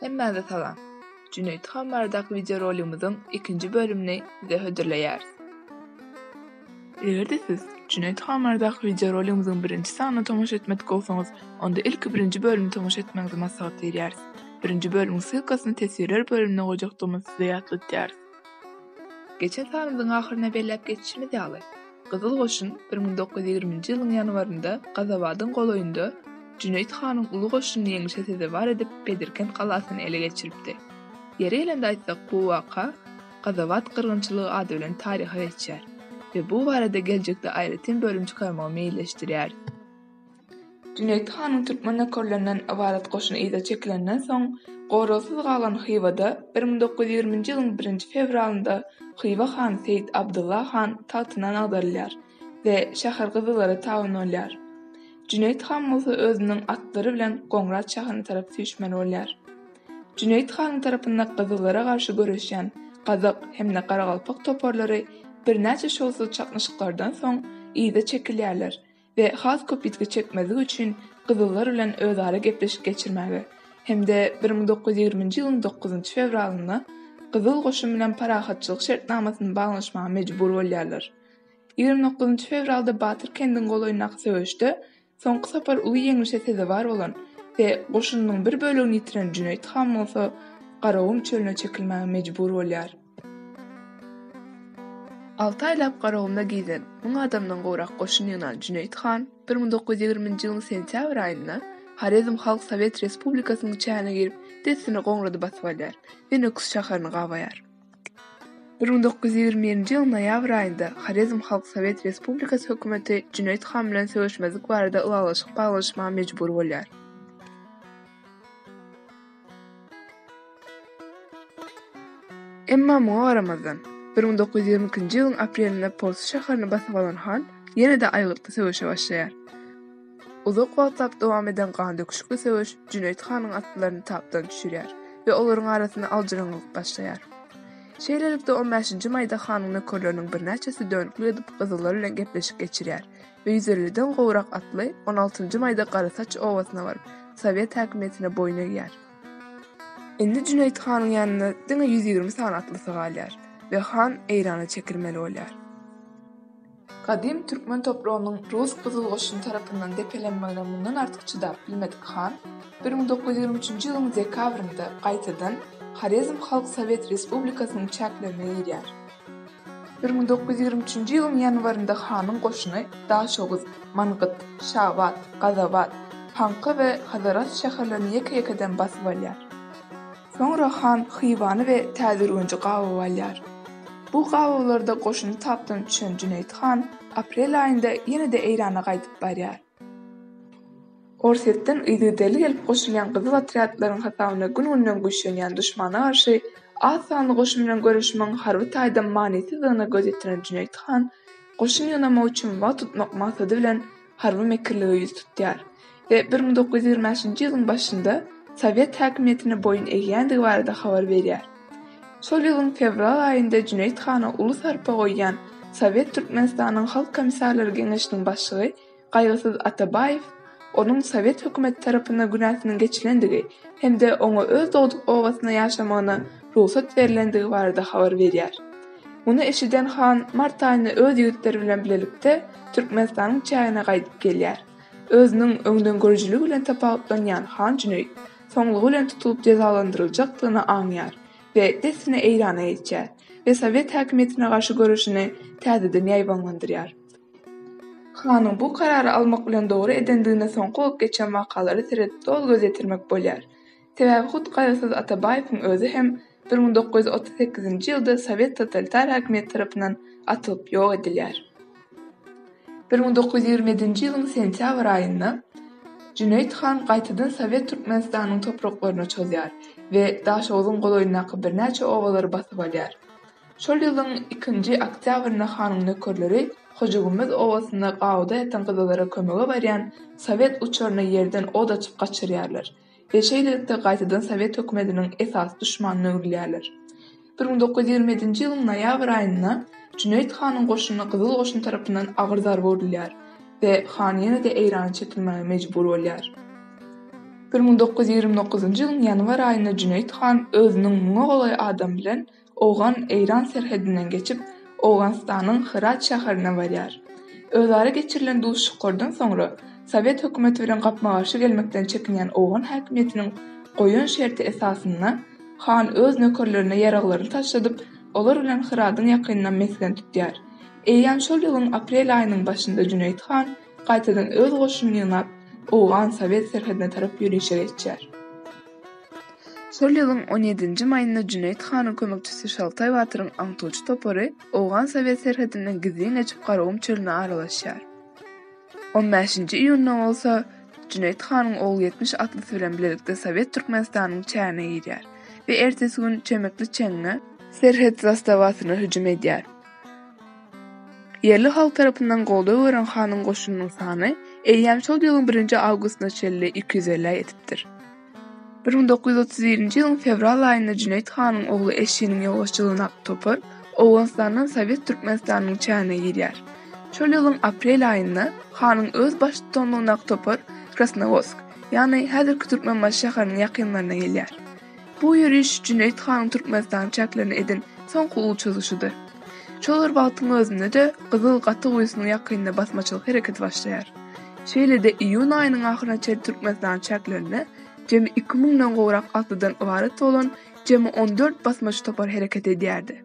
Hemmäňize salam. Jüneýit han baradaky wideorolygymyzyň ikinji bölümini size hödürleýäris. Eger-de siz Jüneýit han baradaky wideorolygymyzyň birinji sanyna tomaşa etmedik bolsaňyz, onda ilki birinji bölümi tomaşa etmegiňizi maslahat berýäris. Birinji bölümiň ssylkasyny teswirler bölümine goýjakdygymyzy size ýatlatýarys. Geçen sanymyzyň ahyryna belläp geçişimiz ýaly, Gyzyl goşun bir müň dokuz ýüz ýigriminji ýylyň ýanwarynda Gazabadyň golaýynda Jüneýit hanyň uly goşunyny ýeňişe sezewar edip Bedirkent galasyny ele geçiripdi. Ýeri gelende aýtsak bu waka Gazabat gyrgynçylygy ady bilen taryha geçýär we bu barada geljekde aýratyn bölüm çykarmagy meýilleşdirýäris. Jüneýit hanyň türkmen nökerlerinden ybarat goşuny yza çekilenden soň, goragsyz galan Hywada bir müň dokuz ýüz ýigriminji ýylyň birinji fewralynda Hywa hany Seýit Abdylla han tagtyndan agdarylýar we şäher gyzyllara tabyn bolýar. Jüneýit han bolsa özüniň atlary bilen Goňrat şäherine tarap süýşmeli bolýar. Jüneýit hanyň tarapynda gyzyllara garşy göreşýän gazak hem-de garagalpak toparlary birnäçe şowsuz çaknyşyklardan soň yza çekilýärler we has köp ýitgi çekmezlik üçin gyzyllar bilen özara gepleşik geçirmäge hem-de bir müň dokuz ýüz ýigriminji ýylyň dokuzynjy fewralynda Gyzyl goşun bilen parahatçylyk şertnamasyny baglanyşmaga mejbur bolýarlar. Ýigrimi dokuzynjy fewralda Batyr kendiň golaýyndaky söweşde soňky sapar uly ýeňlişe sezewar bolan we goşunynyň bir bölegini ýitiren Jüneýit han bolsa Garagum çölüne çekilmäge mejbur bolýar. Alty aýlap garagumda gezen, müň adamdan gowrak goşun ýygnan Jüneýit han bir müň dokuz ýüz ýigriminji ýylyň sentýabr aýynda Horezm Halk Sowet Respublikasynyň çägine girip, dessine Goňrady basyp alýar we Nöküs şäherini gabaýar. Bir müň dokuz ýüz ýigrimi birinji ýylyň noýabr aýynda Horezm Halk Sowet Respublikasy hökümeti Jüneýit han bilen söweşmezlik barada ylalaşyk baglanyşmaga mejbur bolýar. Emma muňa garamazdan, bir müň dokuz ýüz ýigrimi ikinji ýylyň aprelinde Polsu şäherini basyp alan han ýene-de aýgytly söweşe başlaýar. Uzak wagtlap dowam eden gandöküşikli söweş Jüneýit hanyň atlylaryny tapdan düşürýär we olaryň arasynda aljyraňňylyk başlaýar. Şeýlelikde, on bäşinji maýda hanyň nökerleriniň birnäçesi dönüklik edip gyzyllar bilen gepleşik geçirýär Öýzellidan gowrak atly on altynjy maýda Garasaç obasyna baryp, sowet häkimiýetine boýun egýär. Indi Jüneýit hanyň ýanynda diňe ýüz ýigrimi sany atlysy galýar we han Eýrana çekilmeli bolýar. Gadym türkmen topragynyň rus gyzyl goşuny tarapyndan depelenmegine mundan artyk çydap bilmedik han bir müň dokuz ýüz ýigrimi üçünji ýylyň dekabrynda gaýtadan Horezm Halk Sowet Respublikasynyň çäklerine girýär. Bir müň dokuz ýüz ýigrimi üçünji ýylyň ýanwarynda hanyň goşuny Daşoguz, Mangyt, Şabat, Gazabat, Panka we Hazarasp şäherlerini ýeke-ýekeden basyp alýar. Soňra han Hywany we Täzürgenji gabaw alýar. Bu gabawlarda goşuny tapdan düşen Jüneýit han aprel aýynda ýene-de Eýrana gaýdyp barýar. Orsýetden yzygiderli gelip goşulýan gyzyl otrýadlaryň hasabyna gün-günden güýçlenýän duşmana garşy az sanly goşun bilen göreşmegiň harby taýdan manysyzdygyna göz ýetiren Jüneýit han goşun ýygnamak üçin wagt utmak maksady bilen harby mekirlige ýüz tutýar we bir müň dokuz ýüz ýigrimi bäşinji ýylyň başynda sowet häkimiýetine boýun egýändigi barada habar berýär. Şol ýylyň fewral aýynda Jüneýit hana uly sarpa goýýan Sowet Türkmenistanyň Halk Komissarlary Geňeşiniň başlygy Gaýgysyz Atabaýew onuň sowet hökümeti tarapynda günäsiniň geçilendigi hem-de oňa öz dogduk obasynda ýaşamagyna rugsat berilendigi barada habar berýär. Muny eşiden han mart aýynda öz ýigitleri bilen bilelikde Türkmenistanyň çägine gaýdyp gelýär. Özüniň öňdengörüjiligi bilen tapawutlanýan han Jüneýit soňlugy bilen tutulyp jezalandyryljakdygyny aňýar we dessine Eýrana geçýär we sowet häkimiýetine garşy göreşini täzeden ýaýbaňlandyrýar. Hanyň bu karary almak bilen dogry edendigine soňky bolup geçen wakalara seredip doly göz ýetirmek bolýar. Sebäbi hut Gaýgysyz Atabaýewiň özi hem Bir müň dokuz ýüz otuz sekizinji ýylda sowet totalitar häkimiýet tarapyndan atylyp ýok edilýär. Bir müň dokuz ýüz ýigrimi ýedinji ýylyň sentýabr aýynda Jüneýit han gaýtadan sowet Türkmenistanyň topraklaryna çozýar we Daşoguzyň golaýyndaky birnäçe obalary basyp alýar. Şol ýylyň ikinji oktýabrynda hanyň nökerleri Hojagümmez obasynda gawuda ýatan gyzalara kömege barýan sowet uçaryna ýerden od açyp gaçyrýarlar. we şeýlelikde gaýtadan sowet hökümetiniň esasy duşmanyna öwrülýärler. Bir müň dokuz ýüz ýigrimi ýedinji ýylyň noýabr aýynda Jüneýit hanyň goşuny Gyzyl goşun tarapyndan agyr zarba urulýar we han ýene-de Eýrana çekilmäge mejbur bolýar. Bir müň dokuz ýüz ýigrimi dokuzynjy ýylyň ýanwar aýynda Jüneýit han özüniň müňe golaý adam bilen Owgan-eýran serhedinden geçip, Owganystanyň Hyrat şäherine barýar. Özara geçirilen duşuşyklardan soňra, sowet hökümeti bilen gapma-garşy gelmekden çekinýän owgan häkimiýetiniň goýan şerti esasynda, han öz nökerlerine ýaraglaryny taşladyp, olar bilen Hyradyň ýakynynda mesgen tutýar. Eýýäm şol ýylyň aprel aýynyň başynda Jüneýit han gaýtadan öz goşunyny ýygnap, owgan-sowet serhedine tarap ýörişe geçýär. Şol ýylyň on ýedinji maýynda Jüneýit hanyň kömekçisi Şaltaý batyryň aňtawçy topary owgan-sowet serhedinden gizlin geçip Garagum çölüne aralaşýar. On bäşinji iýunda bolsa Jüneýit hanyň Ogulýetmiş atlysy bilen bilelikde sowet Türkmenistanyň çägine girýär we ertesi gün Çemekli çeňňe, serhet zastawasyna hüjüm edýär. Ýerli halk tarapyndan goldaw gören hanyň goşunynyň sany eýýäm şol ýylyň birinji awgustyna çenli iki ýüz elli ýetipdir. Bir müň dokuz ýüz otuz birinji ýylyň fewral aýynda Jüneýit hanyň ogly Eşiniň ýolbaşçylygyndaky topar Owganystandan Sowet Türkmenistanynyň çägine girýär. Şol ýylyň aprel aýynda hanyň öz baştutanlygyndaky topar Krasnowodsk, ýagny häzirki Türkmenbaşy şäheriniň ýakynlaryna gelýär. Bu ýöriş Jüneýit hanyň Türkmenistana çäklerini eden soňky uly çozyşydyr. Şol bir wagtyň özünde-de Gyzyl gaty guýusynyň ýakynynda basmaçylyk hereketi başlaýar. Şeýle-de iýun aýynyň ahyryna çenli Türkmenistanyň çäklerinde jemi iki müňden gowrak atlydan ybarat bolan jemi on dört basmaçy topar hereket edýärdi.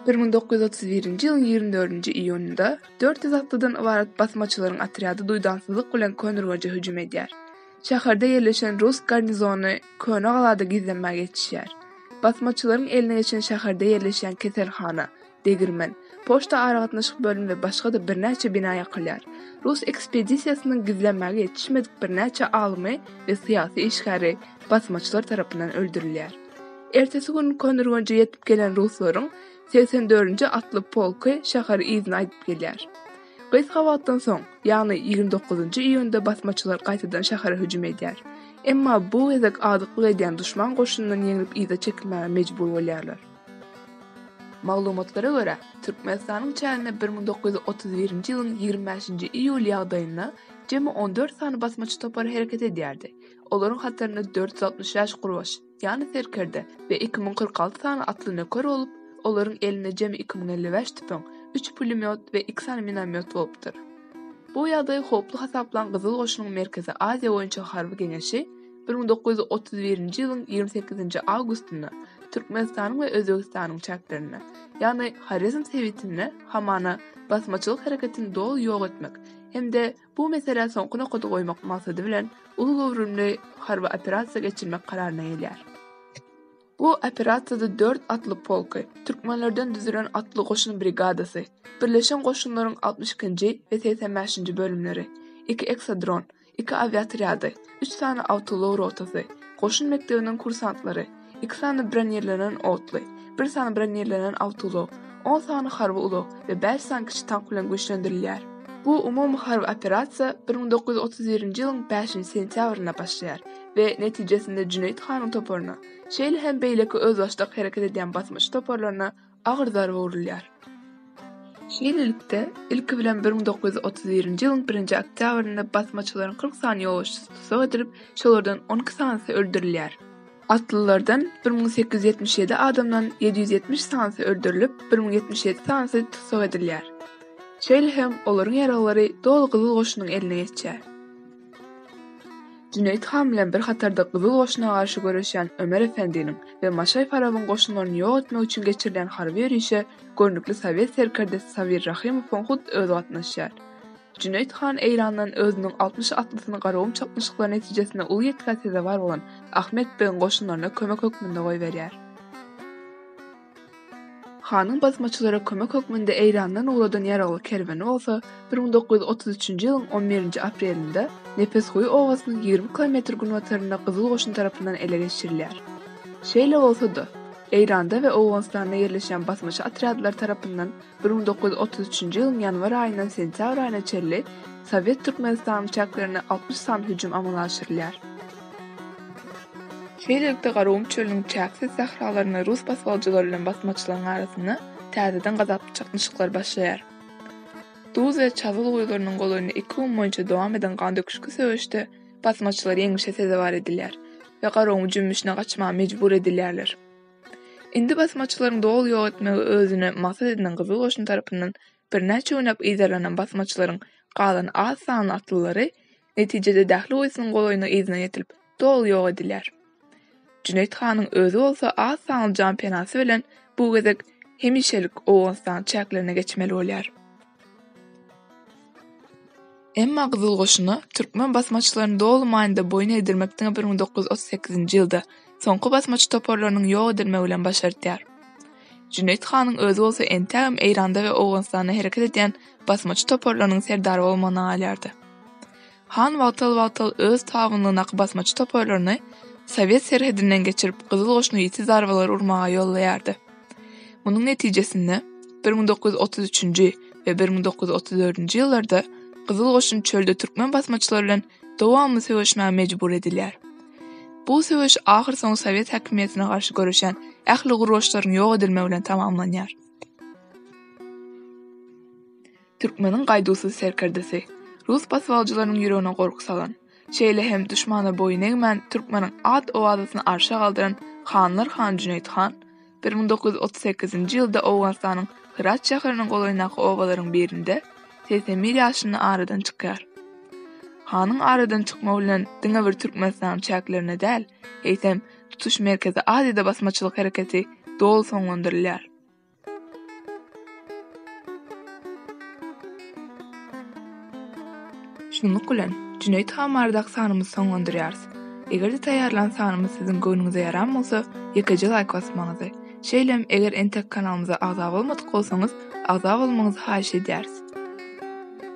Bir müň dokuz ýüz otuz birinji ýylyň ýigrimi dördünji iýunynda dört ýüz atlydan ybarat basmaçylaryň otrýady duýdansyzlyk bilen Köneürgenje hüjüm edýär. Şäherde ýerleşen rus garnizony Köne galada gizlenmäge ýetişýär. Basmaçylaryň eline geçen şäherde ýerleşýän keselhana, degirmen, poçta aragatnaşyk bölümi we başga-da birnäçe bina ýakylýar. Rus ekspedisiýasynyň gizlenmäge ýetişmedik birnäçe alymy we syýasy işgäri basmaçylar tarapyndan öldürilýär. Ertesi gün Konurgonja ýetip gelen ruslaryň segsen dördünji atly polky şäheri yzyna aýdyp gelýär. Gysga wagtdan soň, ýagny ýigrimi dokuzynjy iýunda basmaçylar gaýtadan şähere hüjüm edýär. Emma bu gezek azyklyk edýän duşman goşunyndan ýeňlip yza çekilmäge mejbur bolýarlar. Maglumatlara görä, Türkmenistanyň çäginde bir müň dokuz ýüz otuz birinji ýylyň ýigrimi bäşinji iýul ýagdaýynda jemi on dört sany basmaçy topary hereket edýärdi. Olaryň hatarynda dört ýüz altmyş bäş gurbaş, ýany serkerde we iki müň kyrk alty sany atly nöker bolup, olaryň elinde jemi iki müň elli bäş tüpeň, üç pulemýot we iki sany minomýot bolupdyr. Bu ýagdaýy howply hasaplan Gyzyl Goşunyň Merkezi Aziýa boýunça harby geňeşi bir müň dokuz ýüz otuz birinji ýylyň ýigrimi sekizinji awgustynda Türkmenistanyň we Özbegistanyň çäklerinde, ýagny Horezm sebitinde hamana basmaçylyk hereketini doly ýok etmek hem-de Bu meselä soňky nokady goýmak maksady bilen uly göwrümli harby operasiýa geçirmek kararyna gelýär. Bu operasiýada dört atly polky, türkmenlerden düzülen atly goşun brigadasy, Birleşen goşunlaryň altmyş ikinji we segsen bäşinji bölümleri, iki eksadron, iki awiatrýady, üç sany awtoulag rotasy, goşun mekdebiniň kursantlary, iki sany bronirlenen otly, bir sany bronirlenen awtoulag, on sany harby ulag we bäş sany kiçi tank bilen güýçlendirilýär. Bu umumy harby operasiýa bir müň dokuz ýüz otuz birinji ýylyň bäşinji sentýabrynda başlaýar we netijesinde Jüneýit hanyň toparyna, şeýle hem beýleki özbaşdak hereket edýän basymçy toparlaryna agyr zarba urulýar. Şeýlelikde, ilki bilen bir müň dokuz ýüz otuz birinji ýylyň birinji oktýabrynda basmaçylaryň kyrk sany ýolagçysy tussag edilip, şolardan on iki sanysy öldürilýär. Atlylardan bir müň sekiz ýüz ýetmiş ýedi adamdan ýedi ýüz ýetmiş sanysy öldürilip, bir müň ýetmiş ýedi sanysy tussag edilýär. Şeýle hem olaryň ýaraglary doly Gyzyl Goşunyň eline geçýär. Jüneýit han bilen bir hatarda Gyzyl goşuna garşy göreşýän Ömer Efendiniň we Maşaý Farabyň goşunlaryny ýok etmek üçin geçirilýän harby ýörişe görnükli sowet serkerdesi Sabir Rahymowyň hut özi gatnaşýar. Jüneýit han Eýrandan özüniň altmyş atlysyny Garagum çaknyşyklary netijesinde uly ýitgä sezewar bolan Ahmet begiň goşunlaryna kömek hökmünde goýberýär. Hanyň basmaçylara kömek hökmünde Eýrandan ugradan ýaragly kerweni bolsa bir müň dokuz ýüz otuz üçünji ýylyň on birinji aprelinde Nepesguýy obasynyň ýigrimi kilometr günbatarynda Gyzyl goşun tarapyndan ele geçirilýär. Şeýle bolsa-da, Eýranda we Owganystanda ýerleşýän basmaçy otrýadlar tarapyndan Bir müň dokuz ýüz otuz üçünji ýylyň ýanwar aýyndan sentýabr aýyna çenli Sowet Türkmenistanyň çäklerinde altmyş sany hüjüm amala aşyrylýar. Şeýlelikde Garagum çölüniň çäksiz sähralaryny rus basgalyjylary bilen basmaçylaryň arasynda täzeden gazaply çaknyşyklar başlaýar. Duz we Çazgyl guýularynyň golaýynda iki gün boýunça dowam eden gandöküşikli söweşde basmaçylar ýeňlişe sezewar edilýär we Garagumy jümmüşine gaçmaga mejbur edilýärler. Indi basmaçylaryň doly ýok etmegi özüne maksat edinen gyzyl goşun tarapyndan birnäçe günläp yzarlanan basmaçylaryň galan az sanly atlylary netijede Dähli guýysynyň golaýyna yzyna ýetilip, doly ýok edilýär. Jüneýit hanyň özi bolsa az sanly jan penasy bilen bu gezek hemişelik Owganystanyň çäklerine geçmeli bolýar. Emma Gyzyl goşuna türkmen basmaçylaryny doly manyda boýun egdirmek diňe bir müň dokuz ýüz otuz sekizinji ýylda, soňky basmaçy toparlarynyň ýok edilmegi bilen başardýar. Jüneýit hanyň özi bolsa entägem Eýranda we Owganystanda hereket edýän basmaçy toparlarynyň serdary bolmagyna galýardy. Han wagtal-wagtal öz tabynlygynaky basmaçy toparlaryny sowet serhedinden geçirip Gyzyl Goşuna ýiti zarbalar urmaga ýollaýardy. Munuň netijesinde bir müň dokuz ýüz otuz üçünji we bir müň dokuz ýüz otuz dördünji ýyllarda Gyzyl Goşun çölde türkmen basmaçylary bilen dowamly söweşmäge mejbur edilýär. Bu söweş ahyrsoňy sowet häkimiýetine garşy göreşen ähli gurgaçlaryň ýok edilmegi bilen tamamlanýar. Türkmeniň gaýduwsyz serkerdesi, rus basywalçylarynyň ýüregine gorky salan, şeýle hem duşmana boýun egmän türkmeniň at-owazasyny arşa galdyran hanlar hany Jüneýit han bir müň dokuz ýüz otuz sekizinji ýylda Owganystanyň Hyrat şäheriniň golaýyndaky obalaryň birinde segsen bir ýaşynda aradan çykýar. Hanyň aradan çykmagy bilen diňe bir Türkmenistanyň çäklerinde däl, eýsem, tutuş Merkezi Aziýada basmaçylyk hereketi doly soňlandyrylýar. Şunluk bilen, Jüneýit han baradaky sanymyzy soňlandyrýarys. Eger-de taýýarlan sanymyz siziň göwnüňize ýaran bolsa, ýekeje laýk basmagyňyzy, şeýle-m eger entek kanalymyza agza bolmadyk bolsaňyz, agza bolmagyňyzy haýyş edýäris.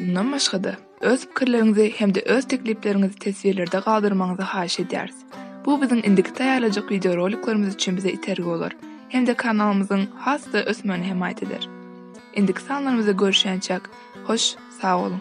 Mundan başga-da, Öz pikirleriňizi hem-de öz teklipleriňizi teswirlerde galdyrmagyňyzy haýyş edýäris. Bu biziň indiki taýýarlajak wideoroliklerimiz üçin bize itergi bolar hem-de kanalymyzyň has-da ösmegine hemaýat eder. Indiki sanlarymyzda görüşýänçäk, hoş, sag boluň!